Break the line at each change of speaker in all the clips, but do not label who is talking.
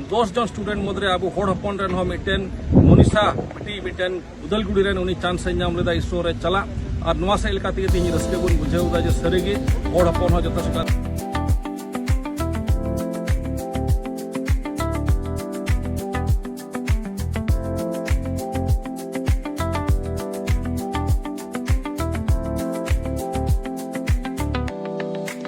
ᱫᱚᱥ ᱡᱚᱱ ᱥᱴᱩᱰᱮᱱᱴ ᱢᱩᱫᱽᱨᱮ ᱟᱵᱚ ᱦᱚᱲ ᱦᱚᱯᱚᱱ ᱨᱮᱱ ᱦᱚᱸ ᱢᱤᱫᱴᱮᱱ ᱢᱚᱱᱤᱥᱟ ᱢᱤᱫᱴᱤᱡ ᱢᱤᱫᱴᱮᱱ ᱩᱫᱟᱞᱜᱩᱲᱤ ᱨᱮᱱ ᱩᱱᱤ ᱪᱟᱱᱥ ᱮ ᱧᱟᱢ ᱞᱮᱫᱟ ᱤᱥᱨᱳ ᱨᱮ ᱪᱟᱞᱟᱜ ᱟᱨ ᱱᱚᱣᱟ ᱥᱮᱫ ᱞᱮᱠᱟ ᱛᱮᱜᱮ ᱛᱮᱦᱮᱧ ᱨᱟᱹᱥᱠᱟᱹ ᱵᱚᱱ ᱵᱩᱡᱷᱟᱹᱣ ᱮᱫᱟ ᱡᱮ ᱥᱟᱹᱨᱤᱜᱮ ᱦᱚᱲ ᱦᱚᱯᱚᱱ ᱦᱚᱸ ᱡᱚᱛᱚ ᱥᱮᱴᱟᱨ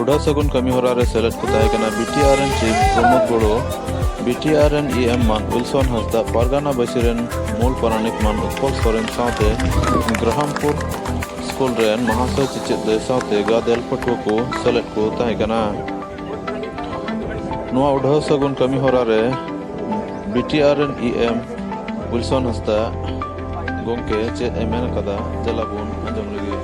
ᱩᱰᱟᱹ ᱥᱟᱹᱜᱩᱱ ᱠᱟᱹᱢᱤ ᱦᱚᱨᱟ ᱨᱮ ᱥᱮᱞᱮᱫ ᱠᱚ ᱛᱟᱦᱮᱸ ᱠᱟᱱᱟ ᱵᱤᱴᱤᱟᱨ ᱨᱮᱱ ᱪᱤᱯ ᱯᱨᱚᱢᱳᱫ ᱜᱚᱲᱚ ᱵᱤᱴᱤᱟᱨ ᱨᱮᱱ ᱤ ᱮᱢ ᱢᱟᱱ ᱩᱞᱥᱚᱱ ᱦᱟᱸᱥᱫᱟ ᱯᱟᱨᱜᱟᱱᱟ ᱵᱟᱹᱥᱤ ᱨᱮᱱ ᱢᱩᱞ ᱯᱟᱨᱟᱱᱤᱠ ᱢᱟᱱ ᱩᱛᱯᱚᱞ ᱥᱚᱨᱮᱱ ᱥᱟᱶᱛᱮ ᱜᱨᱟᱦᱟᱢᱯᱩᱨ ᱥᱠᱩᱞ ᱨᱮᱱ ᱢᱟᱦᱟᱥᱚᱭ ᱪᱮᱪᱮᱫ ᱫᱟᱹᱭ ᱥᱟᱶᱛᱮ ᱜᱟᱫᱮᱞ ᱯᱟᱹᱴᱷᱩᱣᱟᱹ ᱠᱚ ᱥᱮᱞᱮᱫ ᱠᱚ ᱛᱟᱦᱮᱸ ᱠᱟᱱᱟ ᱱᱚᱣᱟ ᱩᱰᱷᱟᱹᱣ ᱥᱟᱹᱜᱩᱱ ᱠᱟᱹᱢᱤ ᱦᱚᱨᱟ ᱨᱮ ᱵᱤᱴᱤᱟᱨ ᱨᱮᱱ ᱤ ᱮᱢ ᱩᱞᱥᱚᱱ ᱦᱟᱸᱥᱫᱟ ᱜᱚᱝᱠᱮ ᱪᱮᱫ ᱮ ᱢᱮᱱ ᱠᱟᱫᱟ ᱫᱮᱞᱟ ᱵᱚᱱ ᱟᱸᱡᱚᱢ ᱞᱮᱜᱮ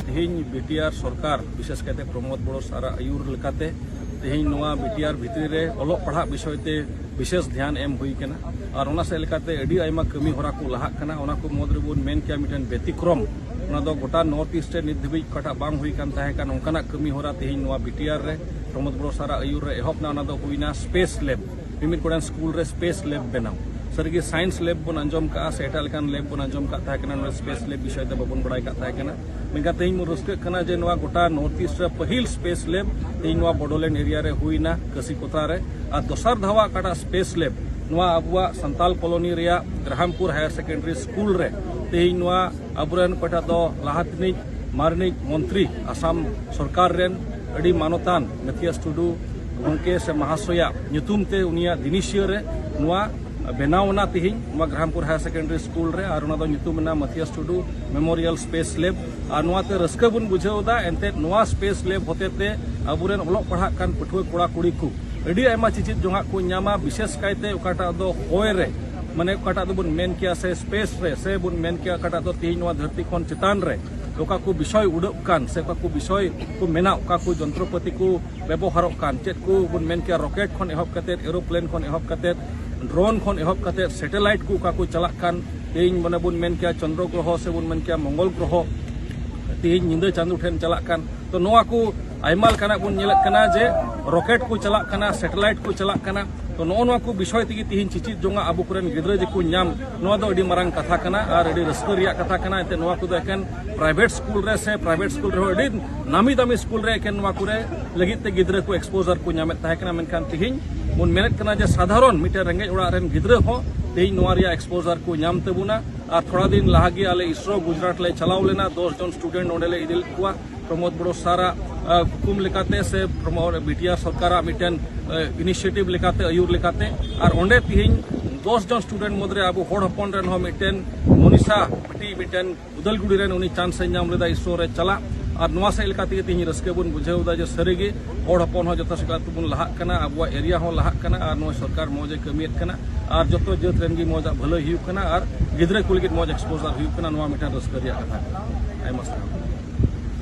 ᱛᱮᱦᱮᱧ ᱵᱤᱴᱤᱟᱨ ᱥᱚᱨᱠᱟᱨ ᱵᱤᱥᱮᱥ ᱠᱟᱭᱛᱮ ᱯᱨᱚᱢᱳᱫ ᱵᱚᱲᱚ ᱥᱟᱨᱟ ᱟᱹᱭᱩᱨ ᱞᱮᱠᱟᱛᱮ ᱛᱮᱦᱮᱧ ᱱᱚᱣᱟ ᱵᱤᱴᱤᱟᱨ ᱵᱷᱤᱛᱨᱤ ᱨᱮ ᱚᱞᱚᱜ ᱯᱟᱲᱦᱟᱜ ᱵᱤᱥᱚᱭ ᱛᱮ ᱵᱤᱥᱮᱥ ᱫᱷᱮᱭᱟᱱ ᱮᱢ ᱦᱩᱭ ᱠᱟᱱᱟ ᱟᱨ ᱚᱱᱟ ᱥᱮᱫ ᱞᱮᱠᱟᱛᱮ ᱟᱹᱰᱤ ᱟᱭᱢᱟ ᱠᱟᱹᱢᱤ ᱦᱚᱨᱟ ᱠᱚ ᱞᱟᱦᱟᱜ ᱠᱟᱱᱟ ᱚᱱᱟ ᱠᱚ ᱢᱩᱫᱽ ᱨᱮᱵᱚᱱ ᱢᱮᱱ ᱠᱮᱭᱟ ᱢᱤᱫᱴᱮᱱ ᱵᱮᱛᱤᱠᱨᱚᱢ ᱚᱱᱟ ᱫᱚ ᱜᱚᱴᱟ ᱱᱚᱨᱛᱷ ᱤᱥᱴ ᱨᱮ ᱱᱤᱛ ᱫᱷᱟᱹᱵᱤᱡ ᱚᱠᱟᱴᱟᱜ ᱵᱟᱝ ᱦᱩᱭ ᱠᱟᱱ ᱛᱟᱦᱮᱸ ᱠᱟᱱ ᱚᱱᱠᱟᱱᱟᱜ ᱠᱟᱹᱢᱤ ᱦᱚᱨᱟ ᱛᱮᱦᱮᱧ ᱱᱚᱣᱟ ᱵᱤᱴᱤᱟᱨ ᱨᱮ ᱯᱨᱚᱢᱳᱫ ᱵᱚᱲᱚ ᱥᱟᱨᱟ ᱟᱹᱭᱩᱨ ᱨᱮ ᱮᱦᱚᱵ ᱮᱱᱟ ᱚᱱᱟ ᱫᱚ ᱦᱩᱭᱱᱟ ᱥᱯᱮᱥ ᱞᱮᱵ ᱢᱤᱢᱤᱫ ᱜᱚᱴᱟᱝ ᱥᱠᱩᱞ ᱨᱮ ᱥᱯᱮᱥ ᱞᱮᱵ ᱵᱮᱱᱟᱣ ᱥᱟᱹᱨᱤᱜᱮ ᱥᱟᱭᱮᱱᱥ ᱞᱮᱵ ᱵᱚᱱ ᱟᱸᱡᱚᱢ ᱠᱟᱜᱼᱟ ᱥᱮ ᱮᱴᱟᱜ ᱞᱮᱠᱟᱱ ᱞᱮᱵ ᱵᱚᱱ ᱟᱸᱡᱚᱢ ᱠᱟᱜ ᱛᱟᱦᱮᱸ ᱠᱟᱱᱟ ᱱᱚᱣᱟ ᱥᱯᱮᱥ ᱞᱮᱵ ᱵᱤᱥᱚᱭ ᱛᱮ ᱵᱟᱵᱚᱱ ᱵᱟᱲᱟᱭ ᱠᱟᱜ ᱛᱟᱦᱮᱸ ᱠᱟᱱᱟ ᱢᱮᱱᱠᱷᱟᱱ ᱛᱮᱦᱮᱧ ᱵᱚᱱ ᱨᱟᱹᱥᱠᱟᱹᱜ ᱠᱟᱱᱟ ᱡᱮ ᱱᱚᱣᱟ ᱜᱚᱴᱟ ᱱᱚᱨᱛᱷ ᱤᱥᱴ ᱨᱮ ᱯᱟᱹᱦᱤᱞ ᱥᱯᱮᱥ ᱞᱮᱵ ᱛᱮᱦᱮᱧ ᱱᱚᱣᱟ ᱵᱚᱰᱳᱞᱮᱱᱰ ᱮᱨᱤᱭᱟ ᱨᱮ ᱦᱩᱭᱱᱟ ᱠᱟᱹᱥᱤ ᱠᱚᱛᱟ ᱨᱮ ᱟᱨ ᱫᱚᱥᱟᱨ ᱫᱷᱟᱣᱟ ᱚᱠᱟᱴᱟᱜ ᱥᱯᱮᱥ ᱞᱮᱵ ᱱᱚᱣᱟ ᱟᱵᱚᱣᱟᱜ ᱥᱟᱱᱛᱟᱞ ᱠᱚᱞᱚᱱᱤ ᱨᱮᱭᱟᱜ ᱜᱨᱟᱦᱟᱢᱯᱩᱨ ᱦᱟᱭᱟᱨ ᱥᱮᱠᱮᱱᱰᱟᱨᱤ ᱥᱠᱩᱞ ᱨᱮ ᱛᱮᱦᱮᱧ ᱱᱚᱣᱟ ᱟᱵᱚᱨᱮᱱ ᱚᱠᱟᱴᱟᱜ ᱫᱚ ᱞᱟᱦᱟ ᱛᱤᱱᱤᱡ ᱢᱟᱨᱱᱤᱡ ᱢᱚᱱᱛᱨᱤ ᱟᱥᱟᱢ ᱥᱚᱨᱠᱟᱨ ᱨᱮᱱ ᱟᱹᱰᱤ ᱢᱟᱱᱚᱛᱟᱱ ᱢᱮᱛᱷᱤᱭᱟᱥ ᱴᱩᱰᱩ ᱜᱚᱢᱠᱮ ᱥᱮ ᱢᱟᱦᱟᱥᱚᱭᱟᱜ ᱧᱩᱛᱩᱢ ᱛᱮ ᱩᱱᱤᱭᱟᱜ ᱫᱤᱱᱤᱥᱤᱭᱟᱹ ᱨᱮ ᱱᱚᱣᱟ ᱵᱮᱱᱟᱣ ᱮᱱᱟ ᱛᱤᱦᱤᱧ ᱱᱚᱣᱟ ᱜᱨᱟᱢᱯᱩᱨ ᱦᱟᱭᱟᱨ ᱥᱮᱠᱮᱱᱰᱟᱨᱤ ᱥᱠᱩᱞ ᱨᱮ ᱟᱨ ᱚᱱᱟ ᱫᱚ ᱧᱩᱛᱩᱢ ᱮᱱᱟ Mathias Tudu memorial space lab ᱟᱨ ᱱᱚᱣᱟᱛᱮ ᱨᱟᱹᱥᱠᱟᱹ ᱵᱚᱱ ᱵᱩᱡᱷᱟᱹᱣ ᱮᱫᱟ ᱮᱱᱛᱮᱫ ᱱᱚᱣᱟ ᱥᱯᱮᱥ ᱞᱮᱵ ᱦᱚᱛᱮᱛᱮ ᱟᱵᱚᱨᱮᱱ ᱚᱞᱚᱜ ᱯᱟᱲᱦᱟᱜ ᱠᱟᱱ ᱯᱟᱹᱴᱷᱩᱣᱟᱹ ᱠᱚᱲᱟ ᱠᱩᱲᱤ ᱠᱚ ᱟᱹᱰᱤ ᱟᱭᱢᱟ ᱪᱮᱪᱮᱫ ᱡᱚᱝᱟᱜ ᱠᱚ ᱧᱟᱢᱟ ᱵᱤᱥᱮᱥ ᱠᱟᱭᱛᱮ ᱚᱠᱟᱴᱟᱜ ᱫᱚ ᱦᱚᱭ ᱨᱮ ᱢᱟᱱᱮ ᱚᱠᱟᱴᱟᱜ ᱫᱚᱵᱚᱱ ᱢᱮᱱ ᱠᱮᱭᱟ ᱥᱮ ᱥᱯᱮᱥ ᱨᱮ ᱥᱮ ᱵᱚᱱ ᱢᱮᱱ ᱠᱮᱭᱟ ᱚᱠᱟᱴᱟᱜ ᱫᱚ ᱛᱤᱦᱤᱧ ᱱᱚᱣᱟ ᱫᱷᱟᱹᱨᱛᱤ ᱠᱷᱚᱱ ᱪᱮᱛᱟᱱ ᱨᱮ ᱚᱠᱟ ᱠᱚ ᱵᱤᱥᱚᱭ ᱩᱰᱟᱹᱜ ᱠᱟᱱ ᱥᱮ ᱚᱠᱟ ᱠᱚ ᱵᱤᱥᱚᱭ ᱠᱚ ᱢᱮᱱᱟᱜ ᱚᱠᱟ ᱠᱚ ᱡᱚᱱᱛᱨᱚᱯᱟᱹᱛᱤ ᱠᱚ ᱵᱮᱵᱚᱦᱟᱨᱚᱜ ᱠᱟᱱ ᱪᱮᱫ ᱠᱚ ᱵᱚᱱ ᱢᱮᱱ ᱠᱮᱭᱟ ᱨᱚᱠᱮᱴ ᱠᱷᱚᱱ ᱮᱦᱚᱵ ᱠᱟᱛᱮ ᱮᱨᱳᱯᱞᱮᱱ ᱠᱷᱚᱱ ᱮᱦᱚᱵ ᱠᱟᱛᱮ ᱰᱨᱳᱱ ᱠᱷᱚᱱ ᱮᱦᱚᱵ ᱠᱟᱛᱮ ᱥᱮᱴᱮᱞᱟᱭᱤᱴ ᱠᱚ ᱚᱠᱟ ᱠᱚ ᱪᱟᱞᱟᱜ ᱠᱟᱱ ᱛᱮᱦᱮᱧ ᱢᱟᱱᱮ ᱵᱚᱱ ᱢᱮᱱ ᱠᱮᱭᱟ ᱪᱚᱱᱫᱨᱚ ᱜᱨᱚᱦᱚ ᱥᱮ ᱵᱚᱱ ᱢᱮᱱ ᱠᱮᱭᱟ ᱢᱚᱝᱜᱚᱞ ᱜᱨᱚᱦᱚ ᱛᱮᱦᱮᱧ ᱧᱤᱫᱟᱹ ᱪᱟᱸᱫᱚ ᱴᱷᱮᱱ ᱪᱟᱞᱟᱜ ᱠᱟᱱ ᱛᱚ ᱱᱚᱣᱟ ᱠᱚ ᱟᱭᱢᱟ ᱞᱮᱠᱟᱱᱟᱜ ᱵᱚᱱ ᱧᱮᱞᱮᱫ ᱠᱟᱱᱟ ᱡᱮ ᱨᱚᱠᱮᱴ ᱠᱚ ᱪᱟᱞᱟᱜ ᱠᱟᱱᱟ ᱥᱮᱴᱮᱞᱟᱭᱤᱴ ᱠᱚ ᱪᱟᱞᱟᱜ ᱠᱟᱱᱟ ᱛᱚ ᱱᱚᱜᱼᱚ ᱱᱚᱣᱟ ᱠᱚ ᱵᱤᱥᱚᱭ ᱛᱮᱜᱮ ᱛᱤᱦᱤᱧ ᱪᱮᱪᱮᱫ ᱡᱚᱝᱟ ᱟᱵᱚ ᱠᱚᱨᱮᱱ ᱜᱤᱫᱽᱨᱟᱹ ᱡᱮᱠᱚ ᱧᱟᱢ ᱱᱚᱣᱟ ᱫᱚ ᱟᱹᱰᱤ ᱢᱟᱨᱟᱝ ᱠᱟᱛᱷᱟ ᱠᱟᱱᱟ ᱟᱨ ᱟᱹᱰᱤ ᱨᱟᱹᱥᱠᱟᱹ ᱨᱮᱭᱟᱜ ᱠᱟᱛᱷᱟ ᱠᱟᱱᱟ ᱮᱱᱛᱮ ᱱᱚᱣᱟ ᱠᱚᱫᱚ ᱮᱠᱮᱱ ᱯᱨᱟᱭᱵᱷᱮᱴ ᱥᱠᱩᱞ ᱨᱮ ᱥᱮ ᱯᱨᱟᱭᱵᱷᱮᱴ ᱥᱠᱩᱞ ᱨᱮᱦᱚᱸ ᱟᱹᱰᱤ ᱱᱟᱢᱤ ᱫᱟᱢᱤ ᱥᱠᱩᱞ ᱨᱮ ᱮᱠᱮᱱ ᱱᱚᱣᱟ ᱠᱚᱨᱮ ᱞᱟᱹᱜᱤᱫ ᱛᱮ ᱜᱤᱫᱽᱨᱟᱹ ᱠᱚ ᱮᱠᱥᱯᱳᱡᱟᱨ ᱠᱚ ᱧᱟᱢᱮᱫ ᱛᱟᱦᱮᱸ ᱠᱟᱱᱟ ᱢᱮᱱᱠᱷᱟᱱ ᱛᱤᱦᱤᱧ ᱵᱚᱱ ᱢᱮᱱᱮᱫ ᱠᱟᱱᱟ ᱡᱮ ᱥᱟᱫᱷᱟᱨᱚᱱ ᱢᱤᱫᱴᱮᱱ ᱨᱮᱸᱜᱮᱡ ᱚᱲᱟᱜ ᱨᱮᱱ ᱜᱤᱫᱽᱨᱟᱹ ᱦᱚᱸ ᱛᱮᱦᱮᱧ ᱱᱚᱣᱟ ᱨᱮᱭᱟᱜ ᱮᱠᱥᱯᱳᱡᱟᱨ ᱠᱚ ᱧᱟᱢ ᱛᱟᱵᱚᱱᱟ ᱟᱨ ᱛᱷᱚᱲᱟ ᱫᱤᱱ ᱞᱟᱦᱟᱜᱮ ᱟᱞᱮ ᱤᱥᱨᱳ ᱜᱩᱡᱽᱨᱟᱴ ᱞᱮ ᱪᱟᱞᱟᱣ ᱞᱮᱱᱟ ᱫᱚᱥ ᱡᱚᱱ ᱥᱴᱩᱰᱮᱱᱴ ᱚᱸᱰᱮ ᱞᱮ ᱤᱫᱤ ᱞᱮᱫ ᱠᱚᱣᱟ ᱯᱨᱚᱢᱳᱫ ᱵᱚᱲᱚ ᱥᱟᱨᱟᱜ ᱦᱩᱠᱩᱢ ᱞᱮᱠᱟᱛᱮ ᱥᱮ ᱯᱨᱚᱢᱳᱫ ᱵᱤᱴᱤᱭᱟᱨ ᱥᱚᱨᱠᱟᱨᱟᱜ ᱢᱤᱫᱴᱮᱱ ᱤᱱᱤᱥᱤᱭᱮᱴᱤᱵᱷ ᱞᱮᱠᱟᱛᱮ ᱟᱹᱭᱩᱨ ᱞᱮᱠᱟᱛᱮ ᱟᱨ ᱚᱸᱰᱮ ᱛᱤᱦᱤᱧ ᱫᱚᱥ ᱡᱚᱱ ᱥᱴᱩᱰᱮᱱᱴ ᱢᱩᱫᱽᱨᱮ ᱟᱵᱚ ᱦᱚᱲ ᱦᱚᱯᱚᱱ ᱨᱮᱱ ᱦᱚᱸ ᱢᱤᱫᱴᱮᱱ ᱢᱚᱱᱤᱥᱟ ᱵᱤᱴᱤ ᱢᱤᱫᱴᱮᱱ ᱩᱫᱟᱞᱜᱩᱲᱤ ᱨᱮᱱ ᱩᱱᱤ ᱪᱟᱱᱥ ᱮ ᱧᱟᱢ ᱞᱮᱫᱟ ᱤᱥᱨᱳ ᱨᱮ ᱪᱟᱞᱟᱜ ᱟᱨ ᱱᱚᱣᱟ ᱥᱮᱫ ᱞᱮᱠᱟ ᱛᱮᱜᱮ ᱛᱤᱦᱤᱧ ᱨᱟᱹᱥᱠᱟᱹ ᱵᱚᱱ ᱵᱩᱡᱷᱟᱹᱣ ᱮᱫᱟ ᱡᱮ ᱥᱟᱹᱨᱤᱜᱮ ᱦᱚᱲ ᱦᱚᱯᱚᱱ ᱦᱚᱸ ᱡᱚᱛᱚ ᱥᱮᱫ ᱛᱮᱵᱚᱱ ᱞᱟᱦᱟᱜ ᱠᱟᱱᱟ ᱟᱵᱚᱣᱟᱜ ᱮᱨᱤᱭᱟ ᱦᱚᱸ ᱞᱟᱦᱟᱜ ᱠᱟᱱᱟ ᱟᱨ ᱱᱚᱣᱟ ᱥᱚᱨᱠᱟᱨ ᱢᱚᱡᱽ ᱮ ᱠᱟᱹᱢᱤᱭᱮᱫ ᱠᱟᱱᱟ ᱟᱨ ᱡᱚᱛᱚ ᱡᱟᱹᱛ ᱨᱮᱱ ᱜᱮ ᱢᱚᱡᱽ ᱟᱜ ᱵᱷᱟᱹᱞᱟᱹᱭ ᱦᱩᱭᱩᱜ ᱠᱟᱱᱟ ᱟᱨ ᱜᱤᱫᱽᱨᱟᱹ ᱠᱚ ᱞᱟᱹᱜᱤᱫ ᱢᱚᱡᱽ ᱮᱠᱥᱯᱳᱡᱟᱨ ᱦᱩᱭᱩᱜ ᱠᱟᱱᱟ ᱱᱚᱣᱟ ᱢᱤᱫᱴᱮᱱ ᱨᱟᱹᱥᱠᱟᱹ ᱨᱮᱭᱟᱜ ᱠᱟᱛᱷᱟ ᱠᱟᱱᱟ ᱟᱭᱢᱟ ᱥᱟᱨᱦᱟᱣ